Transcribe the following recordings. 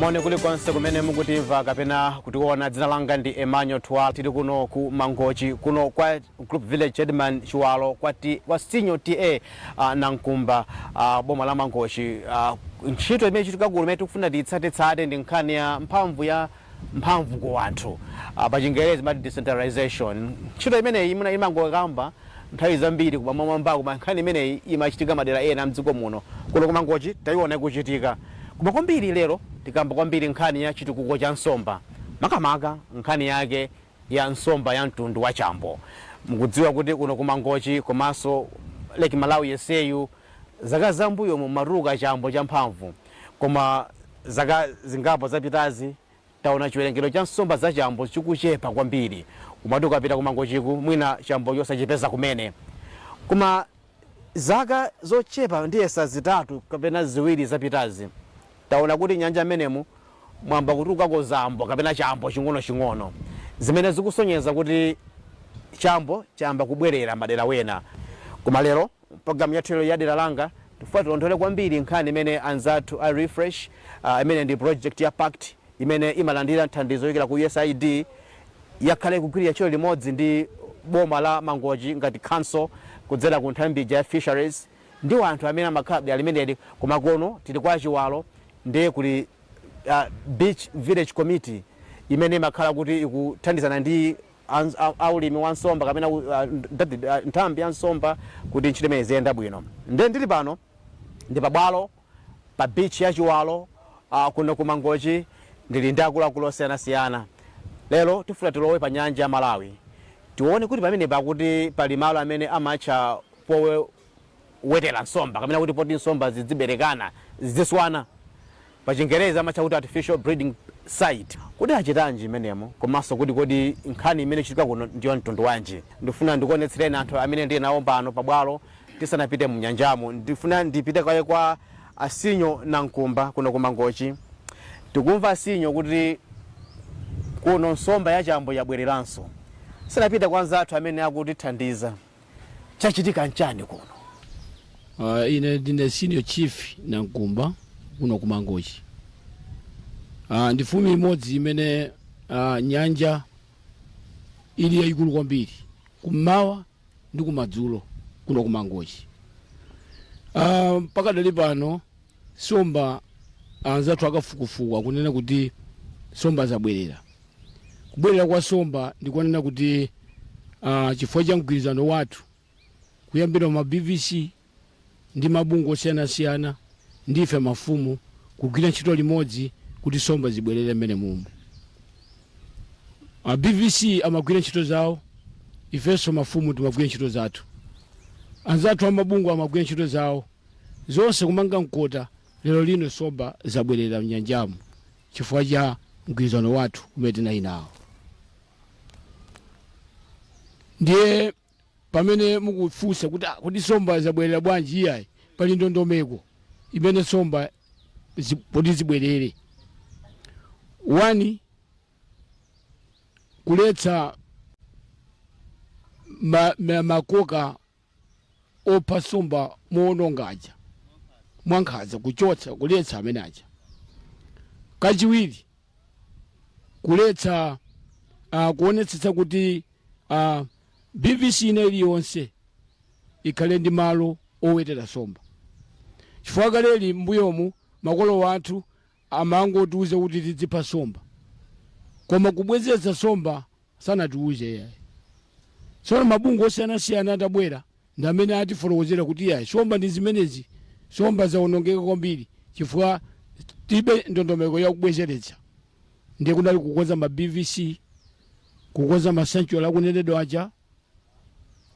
moni kulikonse kumene mukutimva kapena kutiona dzina langa ndi emmanuel twala tili kuno ku mangochi kuno kwa group village headman chiwalo kwa, T- kwa sinyo TA uh, nankumba uh, boma la mangochi uh, ntchito imene ikuchitika kuno imene tikufuna tiyitsatetsate ndi nkhani ya mphamvu ya mphamvu ku anthu. Pa chingerezi amati decentralization. Ntchito imeneyi mwina imangokambidwa nthawi zambiri kumamwamba koma nkhani imeneyi imachitika madera ena a mdziko muno. Kuno ku Mangochi taiona ikuchitika. Koma kwambiri lero tikamba kwambiri nkhani ya chitukuko cha nsomba makamaka nkhani yake ya nsomba ya mtundu wa chambo. Mukudziwa kuti kuno ku Mangochi komanso Lake Malawi yenseyu zaka za m'mbuyomu mumatuluka chambo champhamvu koma zaka zingapo zapitazi taona chiwerengero cha nsomba za chambo chikuchepa kwambiri. Umati ukapita ku Mangochiku mwina chambochi osachipeza kumene. Koma. Zaka zochepa ndiyesa zitatu kapena ziwiri zapitazi, taona kuti m'nyanja m'menemu mwayamba kutulukako zambo kapena chambo ching'onoching'ono zimene zikusonyeza kuti chambo chayamba kubwerera madera wena. Koma lero m'programu yathu yalero ya Dera Langa, tikufuna tilondole kwambiri nkhani imene anzathu a Refresh, imene ndi project ya pact, imene imalandira nthandizo yochokera ku usaid yakhala ikugwirira ntchito limodzi ndi boma la Mangochi makamakanso kudzera ku nthambi ija ya Fisheries ndi anthu amene amakhala dera limeneli koma kuno tili kwa Chiwalo ndiye kuli Beach Village Committee imene imakhala kuti ikuthandizana ndi a ulimi wa nsomba kapena nthambi ya nsomba kuti ntchito imeneyi iziyenda bwino ndiye ndili pano ndi pa bwalo pa beach ya Chiwalo kuno ku Mangochi ndili ndi akuluakulu osiyanasiyana. Lero tifuna tilowe pa nyanja ya Malawi tione kuti pamenepa akuti pali malo amene amatcha powetera nsomba kapena kuti poti nsomba zidziberekana, zidziswana. Pa chingerezi amatcha kuti artificial breeding site. Kodi achitanji mmenemo komanso kuti kodi nkhani imene ikuchitika kuno ndi ya mtundu wanji? Ndikufuna ndikuonetsereni anthu amene ndili nawo pano pa bwalo Tisanapite munyanjamo ndifuna ndipite kaye kwa a Sinyo Nankumba kuno ku Mangochi. Tikumva a Sinyo kuti kuno nsomba ya chambo yabwereranso. Tisanapite kwa anzathu amene akutithandiza, chachitika nchani kuno? Uh, ine ndine senior chief Nankumba kuno ku Mangochi. Uh, ndi mfumu imodzi imene uh, nyanja ili yayikulu kwambiri kummawa ndi kumadzulo kuno ku Mangochi. Ah, pakadali pano somba anzathu akafukufuku akunena kuti somba zabwerera kubwerera kwa somba ndikunena kuti ah, chifukwa cha mgwirizano wathu kuyambira ma BVC ndi mabungwe osiyanasiyana ndi ife mafumu kugwira ntchito limodzi kuti somba zibwerere mmenemu a BVC amagwira ntchito zawo ifenso mafumu timagwira ntchito zathu anzathu amabungwe amagwira ntchito zawo zonse kumanga nkhata lero lino somba zabwerera mnyanjamu chifukwa cha mgwirizano wathu umene tinali nawo ndiye Pamene mukufunsa kuti ah kodi nsomba zabwerera bwanji iyayi pali ndondomeko imene nsombazi poti zibwerere. Wani, kuletsa ma ma makoka opha nsomba mowononga aja mwankhaza kuchotsa kuletsa amene aja. Kachiwiri kuletsa uh, kuonetsetsa kuti uh, BVC ina iliyonse ikhale ndi malo owetera somba chifukwa kaleli mbuyomu makolo wathu amangotiuza kuti tidzipha somba koma kubwezeretsa somba Sanatiuze iyayi. Tsono mabungwe osiyanasiyana atabwera ndi amene atifotokozera kuti iyayi nsomba ndi zimenezi, nsomba zaonongeka kwambiri chifukwa tilibe ndondomeko ya kubwezeretsa. Ndiye kunali kukonza ma BVC, kukonza ma sanctuary akunenedwa aja.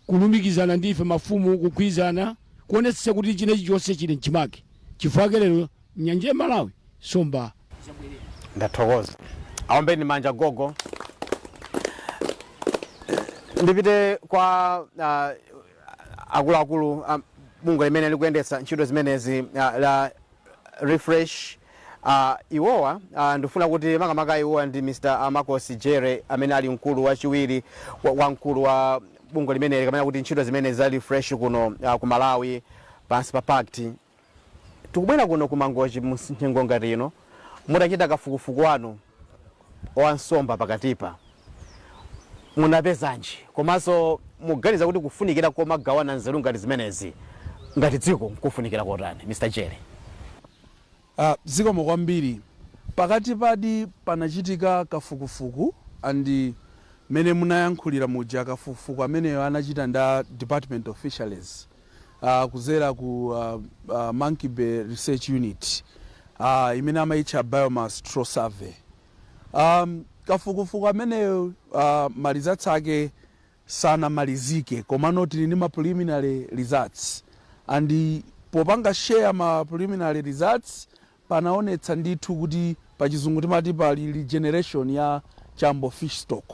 kulumikizana ndi ife mafumu kugwirizana kuonetsetsa kuti china chilichonse chili mchimake chifukwa ake lero nyanja ya malawi somba ndathokoza aombeni manja gogo ndipite kwa uh, akuluakulu um, bungwe limene likuyendetsa ntchito zimenezi uh, la refresh uh, iwowa uh, ndikufuna kuti makamaka iwowa ndi mr amakosi jere amene ali mkulu wachiwiri wa- wamkulu wa bungwe limeneli kapena kuti ntchito zimenezi za refresh kuno uh, ku malawi pansi pa pact tikubwera kuno ku mangochi mnyengo ngati ino mutachita kafukufuku wanu wa nsomba pakatipa munapezanji komanso mukuganiza kuti kufunikira komagawana nzeru ngati zimenezi ngati dziko nkofunikira kotani? Mr Jere. Ah, zikomo kwambiri. Pakatipadi panachitika kafukufuku and mmene munayankhulira muja kafukufuku ameneyo anachita ndi a Department of Fisheries. uh, kudzera ku uh, uh, Monkey Bay Research Unit uh, imene amaitcha Biomass Trawl Survey. Um, kafukufuku ameneyo uh, ma results ake sanamalizike komano tili ndi ma preliminary results and popanga share ma preliminary results panaonetsa ndithu kuti pachizungu timati pali regeneration ya chambo fish stock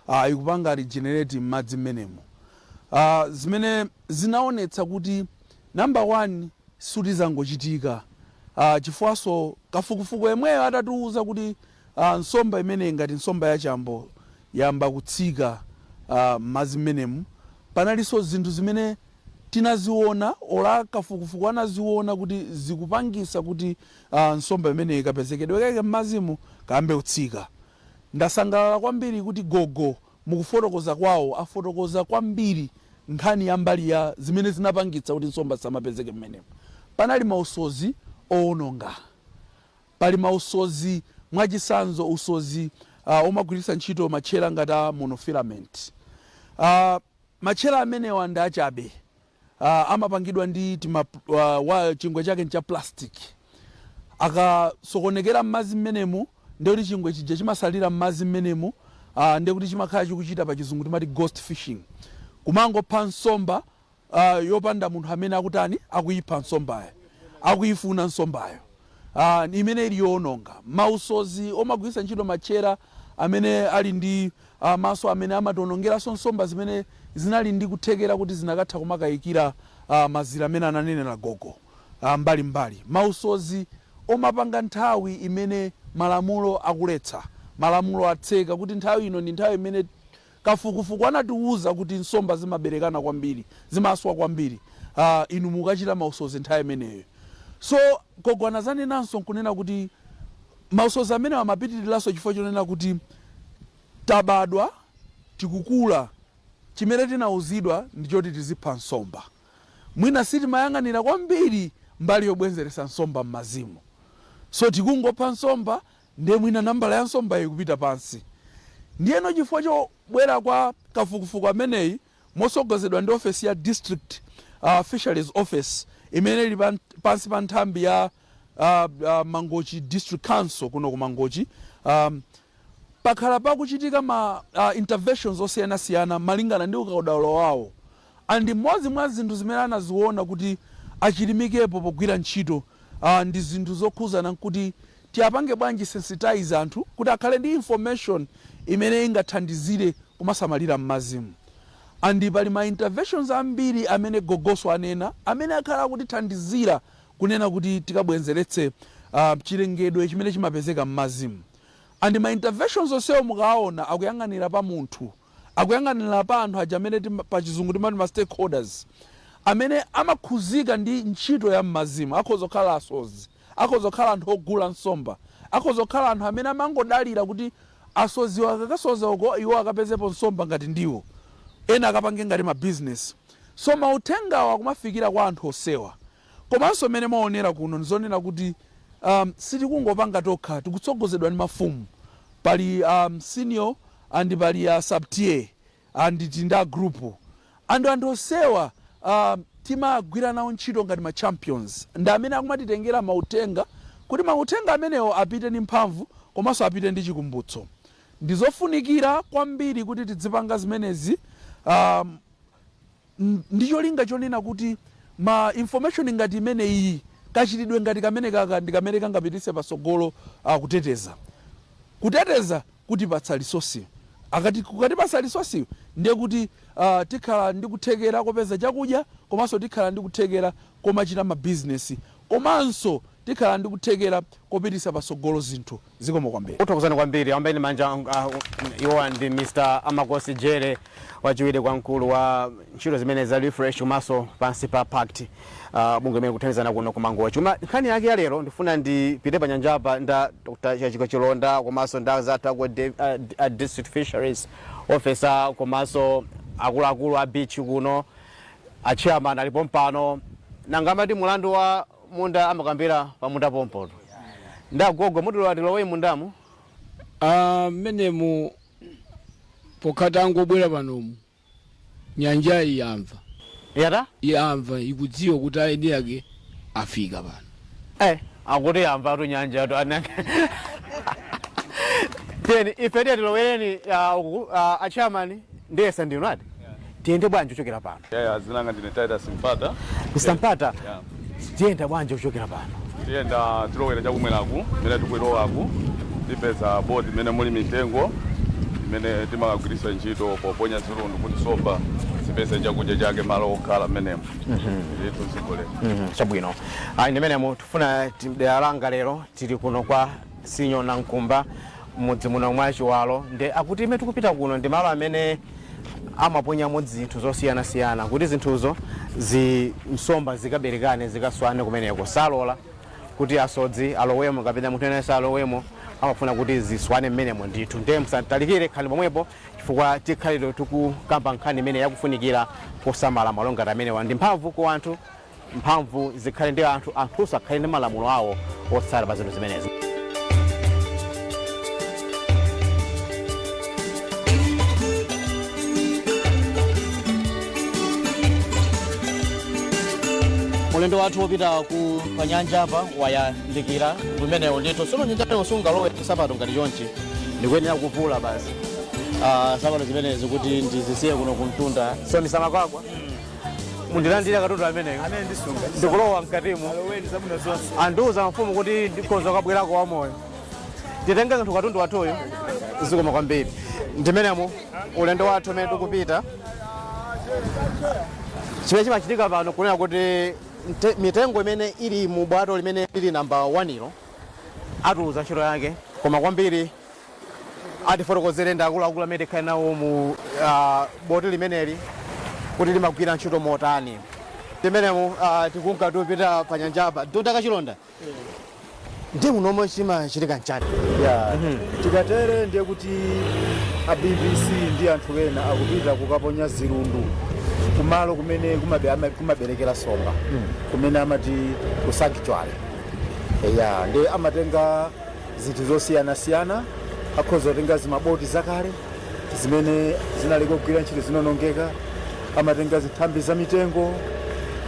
ah ikupanga regenerate m'madzi mmenemo ah zimene zinaonetsa kuti number one sikuti zangochitika ah chifukwaso kafukufuku yemweyo atatiuza kuti ah nsomba imeneyi ngati nsomba ya chambo yayamba kutsika ah m'madzi mmenemu panaliso zinthu zimene Tinaziona olo a kafukufuku anaziona kuti zikupangisa kuti nsomba imeneyi kapezekedwe kake mmazimu kayambe kutsika. Ndasangalala kwambiri kuti gogo mukufotokoza kwawo afotokoza kwambiri nkhani ya mbali ya zimene zinapangitsa kuti nsomba zisamapezeke mmenemu. Panali mausozi owononga. Pali mausozi mwachisanzo usozi omagwiritsa ntchito matchera ngati a monofilament. Matchera amenewa ndi achabe. Amapangidwa ndi tima waya, chingwe chake ndi cha plastic. Akasokonekera mmadzi mmenemu ndiye kuti chingwe chija chimatsalira mmadzi mmenemu ndiye kuti chimakhala chikuchita pachizungu timati ghost fishing. Kumangopha nsomba yopanda munthu amene akutani, akuyipha nsombayo, akuyifuna nsombayo. a, imene ili yoononga. Mausodzi omagwiritsa ntchito matchera amene ali ndi a, maso amene amationongera nsomba zimene zinali ndi kuthekera kuti zinakatha kumakaikira a, mazira amene ananenera gogo a, mbali mbali. Mausodzi omapanga nthawi imene malamulo akuletsa. Malamulo atseka kuti nthawi ino ndi nthawi imene. Kafukufuku anatiuza kuti nsomba zimaberekana kwambiri, zimaswa kwambiri uh, inu mukachita mausozi nthawi imeneyo. So gogo anazanenanso kunena kuti mausozi amenewo amapitiriranso chifukwa chonena kuti tabadwa tikukula chimene tinauzidwa ndi choti tizipha nsomba, mwina sitimayang'anira kwambiri mbali yobwenzeretsa nsomba m'mazimu, so tikungopha nsomba Ndiye mwina nambala ya nsombayo ikupita pansi. Ndiyeno chifukwa chobwera kwa kafukufuku ameneyi motsogozedwa ndi ofesi ya District Fisheries Office imene ili pansi pa nthambi ya Mangochi District Council kuno ku Mangochi, pakhala pakuchitika ma interventions osiyanasiyana malingana ndi ukaudaulo wawo. And mmodzi mwa zinthu zimene anaziona kuti achilimikepo pogwira ntchito ndi zinthu zokhuzana kuti tiapange bwanji sensitize anthu kuti akhale ndi information imene ingathandizire kumasamalira mmazimu and pali ma interventions ambiri amene gogosu anena amene akhala akutithandizira kunena kuti tikabwenzeretse chilengedwe chimene chimapezeka mmazimu and ma interventions onsewo mukawaona akuyang'anira pa munthu akuyang'anira pa anthu aja amene tima, pa chizungu timati ma stakeholders amene amakhuzika ndi ntchito ya mmazimu akhoza kukhala asodzi akhoza kukhala anthu ogula nsomba akhoza kukhala anthu amene amangodalira kuti asodziwa akakasoza uko iwo akapezepo nsomba ngati ndiwo ena akapange ngati ma business so mauthengawa akumafikira kwa anthu onsewa Komanso mmene mwaonera kuno ndi zonena kuti a sitikungopanga tokha, tikutsogozedwa ndi mafumu. Pali a senior and pali a sub TA and tili ndi a group and anthu onsewa a timagwira nawo ntchito ngati ma champions ndi amene akumatitengera mauthenga kuti mauthenga amenewo apite ndi mphamvu komanso apite ndi chikumbutso. Ndi zofunikira kwambiri kuti tidzipanga zimenezi a. ndi cholinga chonena kuti ma information ngati imeneyiyi, kachitidwe ngati kamenekaka ndi kamene kangapititse patsogolo a kuteteza. Kuteteza kutipatsa resource. Kukatipatsa resource yo, ndiye kuti a tikhala ndi kuthekera kopeza chakudya komanso tikhala ndi kuthekera komachita ma business komanso tikhala ndi kuthekera kopititsa patsogolo zinthu. Zikomo kwambiri. Tikuthokozani kwambiri. Aombeni manja iwowa ndi Mr Amakhosi Jere, wachiwiri kwa mkulu wa ntchito zimene za Refresh komanso pansi pa pact, bungwe limene likuthandizana kuno ku Mangochi. Koma nkhani yake ya lero ndifuna ndipite pa nyanjapa nda Dr Chatsika Chilonda komanso nda anzathu aku a District Fisheries Officer komanso akuluakulu a beach kuno, a chairman ali pompano. Nanga amati mulandu wa. munda amakambila pamunda pompo tu nda gogo mutilola tilowe mundamo Ah, mmenemo pokha tangobwera panomu nyanja yi yamva yata yamva ikudziwa kuti aeni ake afika pano eh akuti yamva tu nyanja tu anake eni ife tiye tiloweni ah, uku ah, a chairman Ndiyesa ndinu ati? Tiyende bwanji kuchokera pano? Yeah, yeah, dzina langa ndine Titus Mpata. Mr. Mpata, yeah. Tiyenda bwanji kuchokera pano? Tiyenda tilowera chakumweraku, mene tikulowaku, tipeza boti imene muli mitengo, imene timakagwiritsa ntchito poponya zilundu kuti nsomba zipeze chakudya chake malo wokhala mmenemo mhm. ndithu zigole mhm, chabwino ayi ndimenemo tifuna dera langa lero tili kuno kwa Senior Chief Nankumba, m'mudzi muno mwa Chiwalo nde akuti kumene tikupita kuno ndi malo amene amaponyamo zinthu zosiyanasiyana kuti zinthuzo zi nsomba zikaberekane zikaswane kumeneko. Salola kuti asodzi alowemo kapena munthu wina aliyense alowemo amafuna kuti ziswane mmenemo ndithu nde musatalikire khalani pomwepo chifukwa tikhale tikukamba nkhani imeneyi ya kufunika kosamala malo ngati amenewa ndi mphamvu ku anthu mphamvu zikhale ndi anthu, anthunso akhale ndi malamulo awo otsata pa zinthu zimenezi. ulendo wathu wopita ku panyanja apa wayandikira kumenewo ndithu sono nyanjayo sungalowe sapato ngati chonchi ndikuyenera kuvula basi Ah, sapato zimenezi kuti ndizisiye kuno kumtunda so ndisamakagwa mundilandire katundu ameneyo ndikulowa mkatimo andiuza mfumu kuti ndikhoza kubwerako wamoyo titenge kathu katundu wathuyo zikomo kwambiri ndimenemo ulendo wathu umene tikupita chimene chimachitika pano n'kunena kuti mte- mitengo imene ili mu bwato limene lili namba 1 ilo atiuza ntchito yake koma kwambiri atifotokozera ndi akuluakulu amene tikhale nawo mu ah, boti limeneli kuti limagwira ntchito motani ndi menemo ah, tikunka tikupita pa nyanjapa dota kachilonda ndi munomo chimachitika n'chani ya tikatere ndiye kuti a BVC ndi anthu ena akupita kukaponya zirundu kumalo kumene kumabe- ama- kumaberekera nsomba kumene amati ku sanctuary ya nde amatenga zinthu zosiyanasiyana akhoza kutenga zimaboti zakale zimene zinaleka kugwira ntchito zinonongeka amatenga zinthambi za mitengo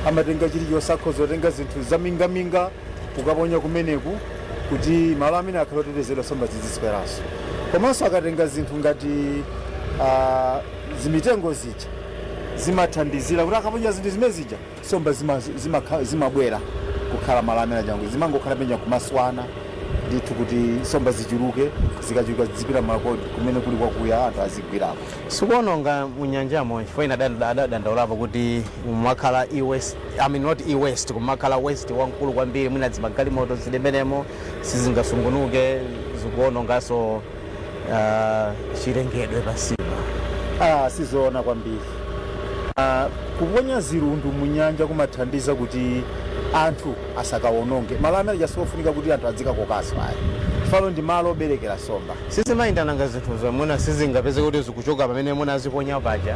amatenga chilichonse akhoza kutenga zinthu zamingaminga kukaponya kumeneko kuti malo amenewa akhale otetezedwa nsomba zizidziswerako komanso akatenga zinthu ngati ah, zimitengo zija zimathandizira kuti akaponya zinthu zimene zija Nsomba zima zimakhala zimabwera kukhala malo amene aja kuti zimangokhala paja kumaswana ndithu kuti nsomba zichuluke zikachuluka zizipita malo kumene kuli kwakuya anthu azigwirako. Sikuononga mu nyanjamo chifukwa ena adad- adadandaulapo kuti mumakhala e-waste I mean not e-waste koma mumakhala waste wamkulu kwambiri mwina zimagalimoto zili menemo sizingasungunuke zikuononganso ah, chilengedwe pansipa ah, sizoona kwambiri ah, kuponya zirundu mu nyanja kumathandiza kuti anthu asakawononge malo amene aja sikofunika kuti anthu adzikakokaso ayi chifukwa pano ndi malo oberekera nsomba sizimayenda ndangati zinthu zomwe sizingapezeke kuti zikuchoka pamene munaziponya paja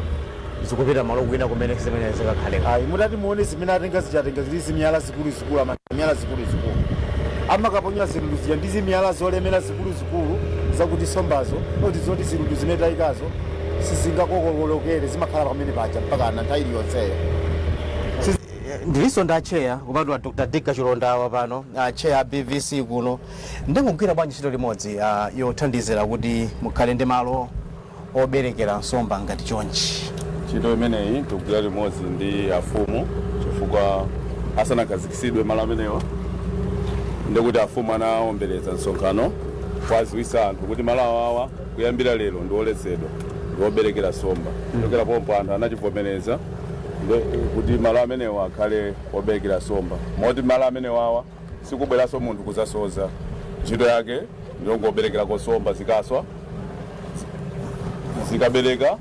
zikupita malo kwina kumene zimene zikakhale ayi mutati muone zimene atenga zija atenga zili zimiyala zikuluzikulu ama miyala zikuluzikulu amakaponya zilundu zija ndi zimiyala zolemera zikuluzikulu zakuti sombazo oti zoti zilundu zimene taikazo sizingakokoloke zimakhala pamene paja mpakana nthawi iliyonseyo ndilinso ndi atcheya kupatula dr dick kachilonda wa pano atcheya a bvc kuno mukugwira bwanji ntchito limodzi ah, yothandizira kuti mukhale ndi malo oberekera nsomba ngati chonchi. Ntchito imeneyi tikugwira limodzi ndi afumu chifukwa asanakhazikitsidwe malo amenewa ndi kuti afumu anaombereza msonkhano kuwadziwitsa anthu kuti malo awawa kuyambira lero ndi oletsedwa ndi oberekera nsomba. Kuchokera pompo anthu anachivomereza kuti malo amenewa akhale oberekera nsomba moti malo amenewawa sikubweranso munthu kuzasoza ntchito yake ndiyongoberekerako somba zikaswa zikabereka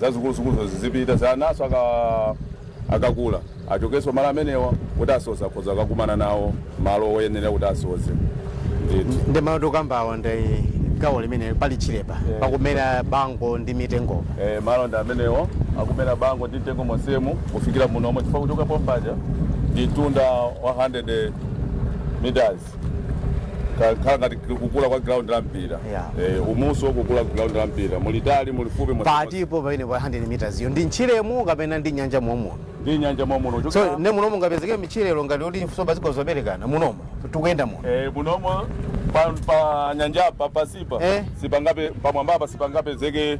zazikuluzikuluzo zizipita zanaso aka- akakula achokenso malo amenewa kuti asoza akhoza akakumana nawo malo oyenerera kuti asoze ndithu ndi malo tikukambawo ndi gawo limene pali tchirepa pakumera bango ndi mitengo Eh, malo ndi amenewo akumera bango ndi mtengo monsemu kufikira munomo chifukwa kuchoka pompaja ndi mtunda 100 meters kukhala ngati kukula kwa ground la mpira Yeah. eh, umusi wokukula ground la mpira mulitali mulifupi mwa- patipo pamene pa 100 meters iyo ndi mtchiremo kapena ndi nyanja momuno ndi nyanja momuno so kuchokera- ne munomo mungapezeke mitchirero ngati kuti nsomba zikhoza kuberekana munomo tikuyenda muno Eh, munomo pa, pa nyanjapa pansipa Eh. sipangape pamwambapa sipangapezeke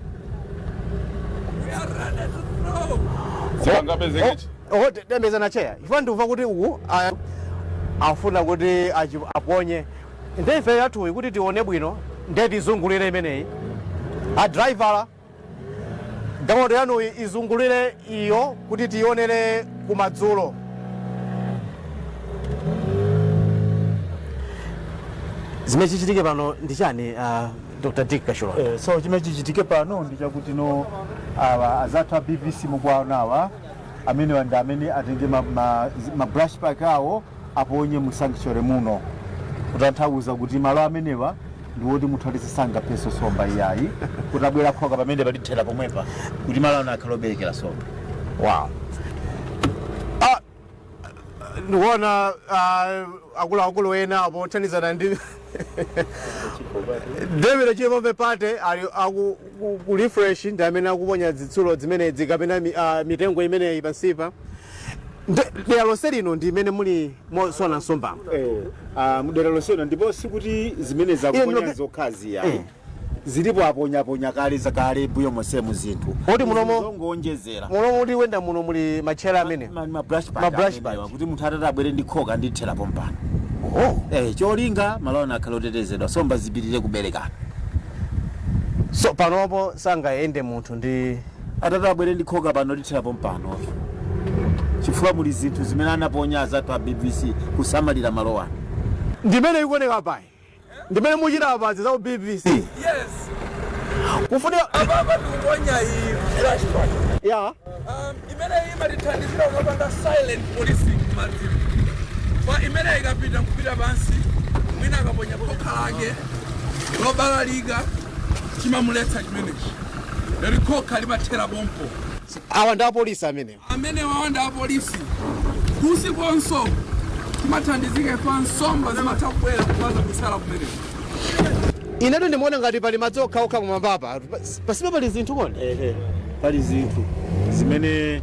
Sangapezeke chi. oho tendeza ndi atcheya chifukwa ndikuva kuti uku a- afuna kuti achi- aponye nde ife yathuyi kuti tione bwino nde tizungulire imeneyi adalaivala galimoto yanuyi izungulire iyo kuti tionere kumadzulo zimene chichitike pano ndi chani ah, dr dick kachilonda Eh, so chimene chichitike pano ndi chakuti no awa azathu a bvc mukuwaona awa amenewa ndi amene atenge ma, ma, ma brush pack awo aponye mu sanctuary muno kutanthauza kuti malo amenewa ndi woti munthu aliyense sangapheso somba iyayi kuti abwere khoka pamenepa tithera pomwepa kuti malo ano akhale oberekera somba wow ndikuona uh, akuluakulu ena apo othandizana ndi Devere Chipope Party ali aku- ku- ku refresh ndi amene akuponya zitsulo zimenezi kapena mi- ah, mitengo imeneyi pansipa Nde- dera lonse lino ndi imene muli moswana nsomba Eh, ah, mdera lonse lino ndipo sikuti zimene akuponya ndinoke- zokhazi ya Eh. zilipo aponya aponya kale zakale mbuyo monsemu zinthu Poti munomo- zongoonjezera muno muli wenda muno muli matchera amene Ma- ma brush park Ma brush amenewa, pad. kuti munthu atati abwere ndi khoka lithera pompano oh. eh, cholinga malowano akhale otetezedwa nsomba zipitire kuberekana so panopo sangayende munthu ndi atati abwere ndi khoka pano lithera pompano chifukwa muli zinthu zimene anaponya azathu a bvc kusamalira malowano ndimene ikuoneka apayi ndimene muchita apazi za u bvc Yes. kufunika Ababa ndikuponya iyi brush park. ya Um, imene imatithandizira kukapanga silent policing madziko. Kwa imene ikapita kupita pansi, mwina akaponya khoka lake lobalalika chimamuletsa chimenechi. Lero khoka limathera pompo. awa ndi apolisi amene Amenewawa ndi apolisi kusikonso timathandizika ife nsomba zimatha kubwera kumazabisala kumeneko Inetu ndimaona ngati pali madzi okhaokha pamwambapa. Pas- Pasipa pali zinthu kodi? ehe pali zinthu zimene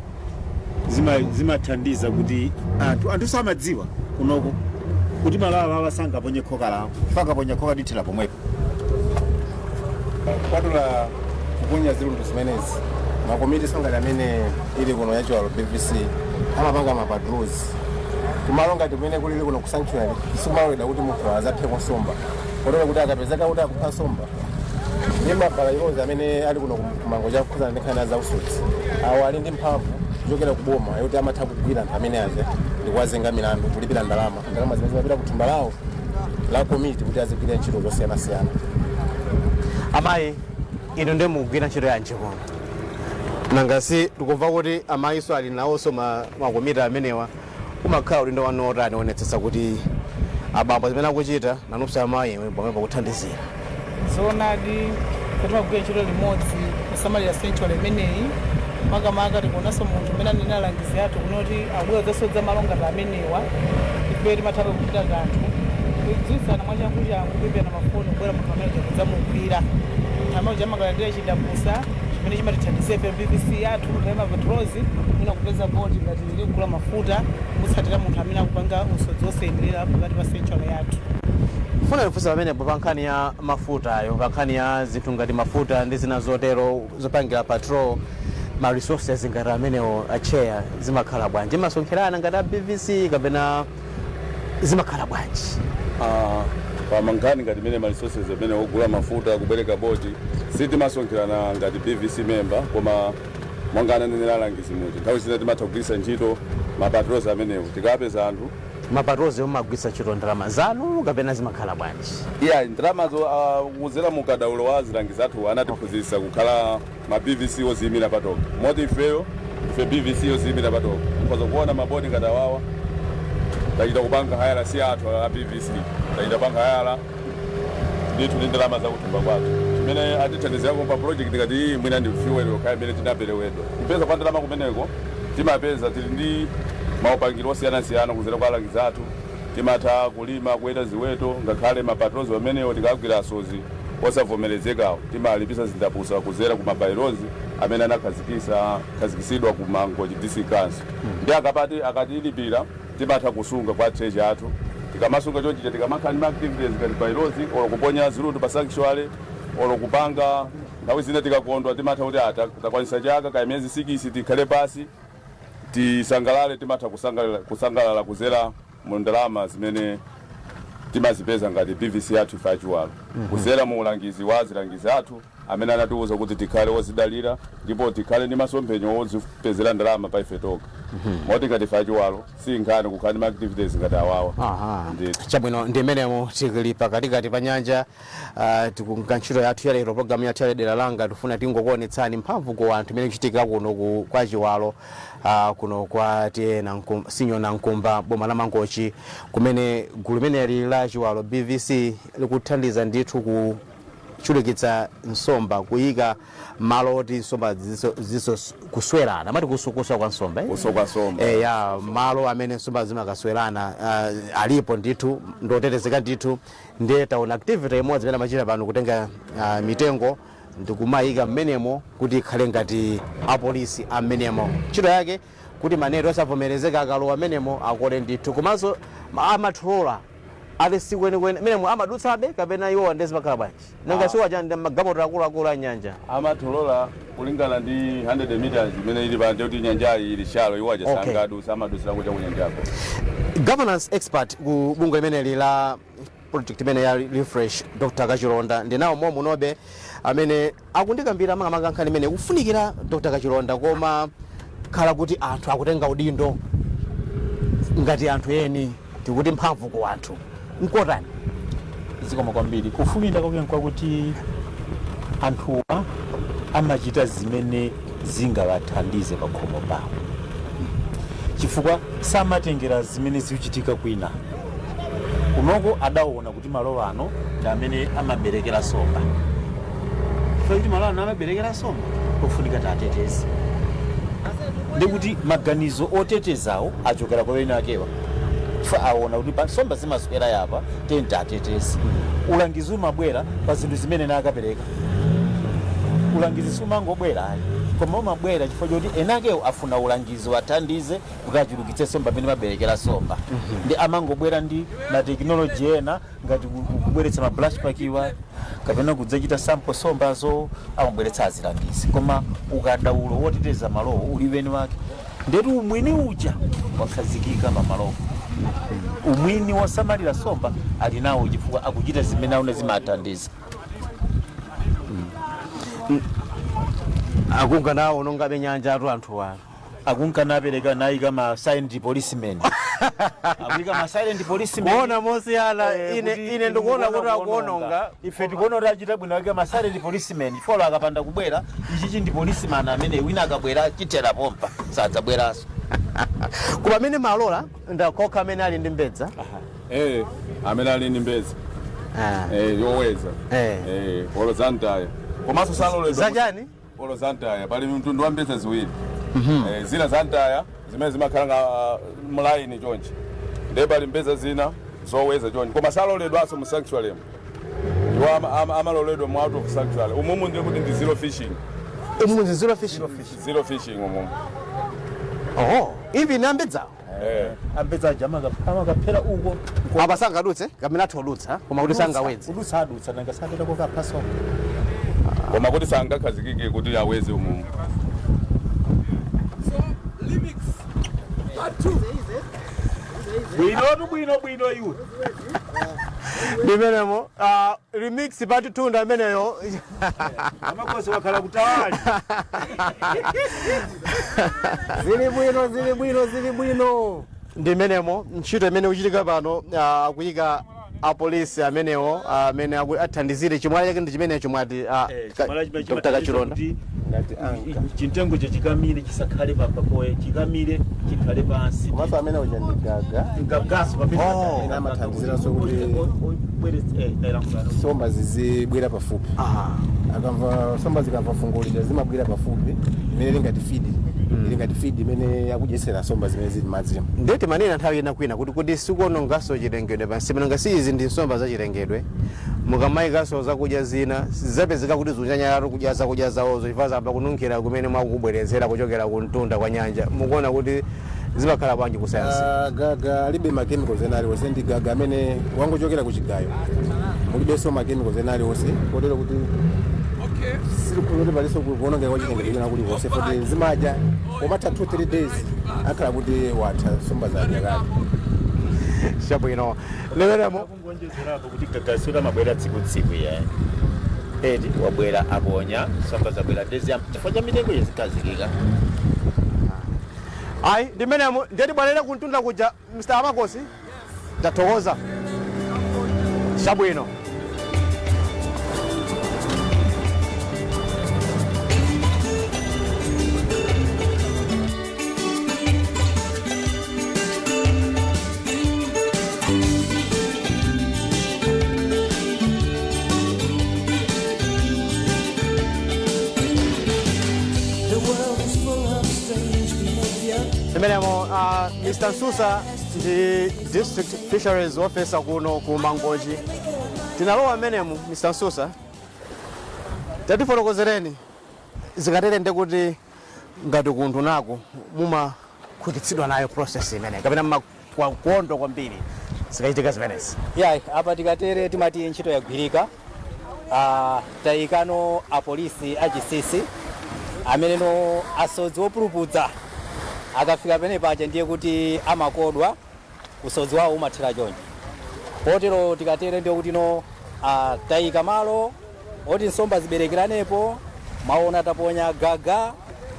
zima- zimathandiza kuti anthu anthu samadziwa kunoko kuti malo awawa sangaponye khoka lawo akaponya khoka lithera pomwepo kupatula kuponya zilundu zimenezi makomitiso ngati amene ili kuno ya Chiwalo bvc amapanga mapatrols kumalo ngati kumene kulili kuno ku sanctuary sikumaloledwa kuti munthu azaphe nsomba kotero kuti akapezeka kuti akupha nsomba ndi ma by-laws amene ali kuno ku Mangochi okhuzana ndi nkhani za usodzi awo ali ndi mphamvu kuchokera ku boma yoti amatha kugwira anthu amene aja ndikuwazenga milandu kulipira ndalama ndalama zimene zimapita ku thumba lawo la komiti kuti azigwirira ntchito zosiyanasiyana amayi inu ndiye mukugwira ntchito yanji kuno nanga si tikumva kuti amayiso ali nawonso ma- makomiti amenewa umakhala udindo wanu otani oonetsetsa kuti abambo zimene akuchita nanunso amayi pamene pakuthandizira zoonadi kuti timagwira ntchito limodzi kusamalira sanctuary imeneyi makamaka tikaonanso munthu mmene anena alangizi athu kunoti akubwera zasodza malo ngati amenewa ife timathabe kuchita kanthu kudziwitsana mwachanguchangu kuimbirana mafoni kubwera munthu amene tikudzamugwira amauja amakalandira chindapusa chimene chimatithandizira ife bvc yathu nthawi mapatrols mwina kupeza boti ngati Sitikugula mafuta kumutsatira munthu amene akupanga usodzi wosayenerera pakati pa sanctuary yathu. Ndifuna kufunsa pamenepo pa nkhani ya mafutayo, pa nkhani ya zinthu ngati mafuta ndi zina zotero zopangira patrol, ma resources ngati amenewo a Tcheya zimakhala bwanji? Mumasonkherana ngati a BVC kapena zimakhala bwanji? Aaa pa nkhani ngati imene ma resources amene ogula mafuta, kubwereka boti, sitimasonkherana ngati BVC member koma Monga ananenera alangizi muja, nthawi zina timatha kugwiritsa ntchito ma patrols amenewo tikapeza anthu. Ma patrols wo mumagwiritsa ntchito ndalama zanu kapena zimakhala bwanji? Iyayi, ndalamazo kudzera mu ukadaulo wa azilangizi athuwa anatiphunzitsa kukhala ma BVC odziyimira patokha. Moti ifeyo ndife BVC yodziyimira patokha. Mukhoza kuona ma boat ngati awawa, tachita kupanga hayala si athu a BVC, tachita kupanga hayala. ndithu ndi ndalama zakuthumba kwathu chimene atithandizirako pa project ngati iyi mwina ndi fuel yokhayo imene tinaperewedwa kupeza kwa ndalama kumeneko timapeza tili ndi maupangiro osiyanasiyana kuzera kwa alangizi athu timatha kulima kuweta ziweto ngakhale ma patrols amenewo tikagwira asozi osavomerezekawo timalipitsa zindapusa kuzera ku ma bylaws amene anakhazikisa- khazikitsidwa ku mangochi dc council ndi aka- akatilipira Timatha kusunga kwa treasurer athu. Tikamasunga chonchi chija tikamakhala ndi ma activities ngati patrols or kuponya zirutu pa sanctuary or kupanga nthawi zina tikakondwa timatha kuti ah takwanisa chaka kaya miyezi sikisi tikhale pasi tisangalale timatha kusangalala kuzera mu ndalama zimene timazipeza ngati BVC yathu ife achiwalo kuzera mu ulangizi wa azilangizi athu. amene anatiuza kuti tikhale odzidalira ndipo tikhale ndi masomphenya odzipezera ndalama pa ife tokha moti ngati ife achiwalo si nkhani kukhala ndi ma activities ngati awawa Aha. Ndithu. chabwino ndiye mmenemo tikali pakatikati pa nyanja ah, tikuchita ntchito yathu ya lero programu yathu ya dera langa tifuna tingokuonetsani mphamvu ku anthu imene ikuchitika kuno ku- kwa chiwalo ah, kuno kwa T/A Nankum- Senior Nankumba boma la mangochi kumene gulu limeneli la chiwalo bvc likuthandiza ndithu ku chulukitsa nsomba kuyika malo oti nsomba zizi, zizikaswerana mati kusu- kuswa kwa nsomba eh? Kuswa kwa nsomba. eh, ya malo amene nsomba zimakaswerana uh, alipo ndithu ndiotetezeka ndithu ndiye taona activity imodzi imene amachita pano kutenga uh, mitengo ndikumayika mmenemo kuti ikhale ngati apolisi ammenemo ntchito yake kuti ma net osavomerezeka akalowa mmenemo akole ndithu komanso ma ma trawler ati sikwenikweni mmenemo amadutsabe kapena iwowa ndiye zimakhala bwanji nanga Ah. si aja ndi magalimoto akuluakulu a nyanja ma trawler kulingana ndi 100 meters imene ili panyanja kuti nyanjayi ili shallow iwo aja Okay. sangadusa amadusira kuja kunyanjako governance expert ku bungwe limeneli la project imene ya refresh dr kachilonda ndinawo mom'muno be amene akundikambira makamaka nkhani imeneyi kufunikira dr kachilonda komakhala kuti anthu akutenga udindo ngati anthu eni tikuti mphamvu ku anthu nkotani zikomo kwambiri kupindula kwake nkwakuti anthuwa amachita zimene zingawathandize pa khomo pawo chifukwa samatengera zimene zikuchitika kwina Kunoko adaona kuti malo ano ndi amene amaberekera nsomba. Chifukwa choti malo ano amaberekera nsomba, ofunika titeteze. Ndiye kuti maganizo otetezawo achokera kwa eni akewo. Chifukwa aona kuti pa- nsomba zimaswera apa, tiyeni titeteze. Ulangizi umabwera pa zinthu zimene anakapereka. Ulangizi siumangobwera ayi, koma umabwera chifukwa choti eni akewo afuna ulangizi uwathandize kuti achulukitse nsomba mmene amaberekera nsomba nde amangobwera ndi matekinoloji ena ngati ku- ku- kubweretsa ma brush park-wa kapena kudzachita sample nsombazo amabweretsa azilangizi koma ukadaulo woteteza malowo uli wa eni wake ndithu umwini uja wakhazikika pa malowo umwini wosamalira nsomba ali nawo chifukwa akuchita zimene aona zimathandiza akunganawonongabe nyanjatu anthu ano akunka napereka nayika ma silent policemen akuika ma silent policemen kuona mosiyana Eh, ine kuti ine ndikuona kuti kuononga. akuononga ife tikuona kuti achita bwino ake ma silent policemen chifukwa akapanda kubwera ichichi ndi policeman amene wina akabwera atchera pompa sadzabweranso koma amene amalola ndi okha amene ali ndi mbedza Eh, amene ali ndi mbedza Ah. eh, yoweza Eh. eh, olo za mtaya komanso saloledwa zachani olo za ntaya pali mtundu wa mbedza ziwiri Eh, zina za ntaya zimene zimakhala ngati mulaini chonchi ndiye pali mbedza zina zoweza chonchi koma saloledwanso mu sanctuary mu iwo ama- ama- amaloledwa mu out of sanctuary umumu ndiye kuti ndi zero fishing umu ndi zero fish zero fishing umumu oh even ambedzawo Eh. ambedza aja amaka- amakaphera uko ko- apa sangadutse kapena atha kudutsa koma kuti sangawedze kudutsa adutsa nanga sapita kokaphaso koma kuti sangakhazikike kuti awedze umu bwinotu bwino bwino iwe ndimenemo ah, remix part 2 ndi ameneyo amakosi wakhala kutawali zili bwino zili bwino zili bwino ndi imeneyo ntchito imene ikuchitika pano ah, akuyika apolisi amenewo ah, amene aku- athandizire chimwala chake ndi chimenecho mwati ah, ka- Dr. kachilonda anka chintengo cho chikamire chisakhale pa papoye chikamire chikhale pansi komanso amene uja ndi gaga ndi gaganso pamene Oh. akhale Ena amathandiziranso kuti- Oy- oy- oy- bweretse, eh, tayilankhulana. somba zizibwera pafupi Ah. akamva somba zikamva fungo lija zimabwera pafupi imene ili ngati fidi ili ngati fidi imene akudyetsera somba zimene zili mmadzimo nde timanena nthawi ina kwina kuti kuti sikuononganso chilengedwe pansi pano nanga si izi ndi nsomba za chilengedwe Mukamaikanso zakudya zina, sizidzapezeka kuti zikunyanyalatu kudya zakudya zawozo chifukwa zayamba kununkhira kumene mwakubweretsera kuchokera kumtunda kwa nyanja. Mukuona kuti zimakhala bwanji ku sayansi? A, gaga alibe ma chemicals ena aliwonse, ndi gaga amene wachokera ku chigayo. Mulibenso ma chemicals ena aliwonse, kotero kuti sitikukhulupirira kuti palinso ku- kuwonongeka kwa chilengedwe kwina kulikonse, poti zimadya pomatha 2 3 days akakhala kuti watha nsomba zadya kale. Chabwino. Leweramo. kuonjezerapo kuti gagayo amabwera tsiku-tsiku ndiye eti abwera aponya nsomba zabwera ndezi am- chifukwa cha mitengo yezikazikika ayi ndimenemo nde tibwerere kumtunda kuja mr amakosi tathokoza chabwino imenemo uh, mr msusa ndi district fisheries officer kuno ku mangochi tinalowa mmenemu mr msusa tatifotokozereni zikatere nde kuti ngati kuundunaku mumakhutitsidwa nayo process imene kapena mumakondwa kwambiri zikachitika zimenezi ya eya apa tikatere timati ntchito yagwirika Ah, tayikano apolisi achisisi amene no asodzi opulupudza akafika pene paja ndiye kuti amakodwa usodzi wawo umathera chonchi kotero tikatere ndiye kuti no ah, tayika malo oti nsomba ziberekeranepo mwaona taponya gaga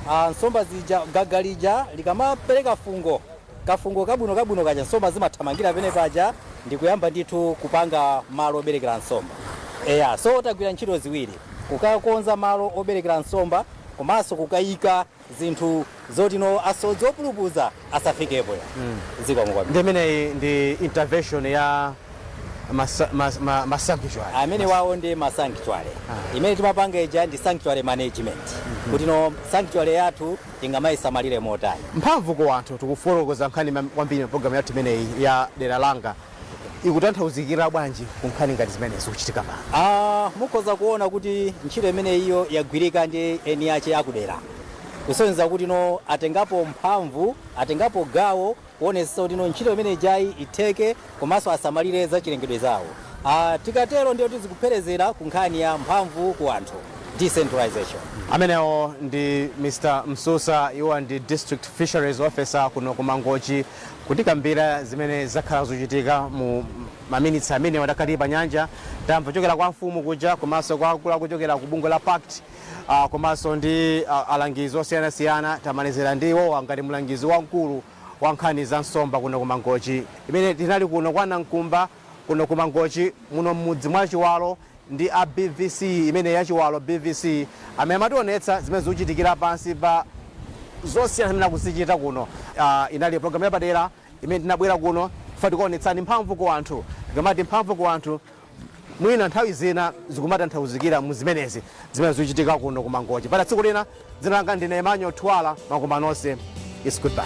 ah, nsomba zija gaga lija likamapereka fungo kafungo kabwino kabwino kaja nsomba zimathamangira pene paja ndikuyamba ndithu kupanga malo oberekera nsomba eya so tagwira ntchito ziwiri kukakonza malo oberekera nsomba komanso kukayika zinthu zoti no asodzi opulupuza asafikepo ya zikomo kwambiri ndi imeneyi ndi intervention ya masa- mas- ma- masanctuary amenewawo ndi ma sanctuary imene timapanga ija ndi sanctuary management kuti no sanctuary yathu tingamayisamalire motani mphamvu ku anthu tikufotokoza nkhani mam- kwambiri mu programu yathu imeneyi ya dera langa ikutanthauzikira bwanji ku nkhani ngati zimene zikuchitika pano? A, mukhoza kuona kuti ntchito imeneyiyo yagwirika ndi eni ache akudera kusonyeza kuti no atengapo mphamvu atengapo gawo kuonetsetsa kuti no ntchito imene ijayi itheke komanso asamalire zachilengedwe zawo A, tikatero ndiye kuti zikupherezera ku nkhani ya mphamvu ku anthu decentralization Amenewo ndi Mr. Msusa, iwo ndi District Fisheries Officer kuno ku Mangochi. Kutikambira zimene zakhala zikuchitika mu maminitsi amenewa takhala tili pa nyanja, tamva kuchokera kwa amfumu kuja komanso kwa akuluakulu ochokera ku bungwe la pact komanso ndi alangizi osiyanasiyana, tamalizira ndi iwowa ngati mlangizi wamkulu wa nkhani za nsomba kuno ku Mangochi pamene tinali kuno kwa Nankumba. Kuno ku Mangochi muno mmudzi mwa Chiwalo ndi a BVC imeneyi ya Chiwalo BVC amene amationetsa zimene zikuchitikira pansi pa zosiyanasiyana zimene akuzichita kuno. Inali program yapadera imene tinabwera kuno chifukwa tikuonetsani mphamvu ku anthu. Tikamati mphamvu ku anthu mwina nthawi zina zikumatanthauzikira mu zimenezi zimene zikuchitika kuno ku Mangochi. Mpaka tsiku lina dzina langa ndine Emmanuel Thuwala makoma nonse. It's goodbye.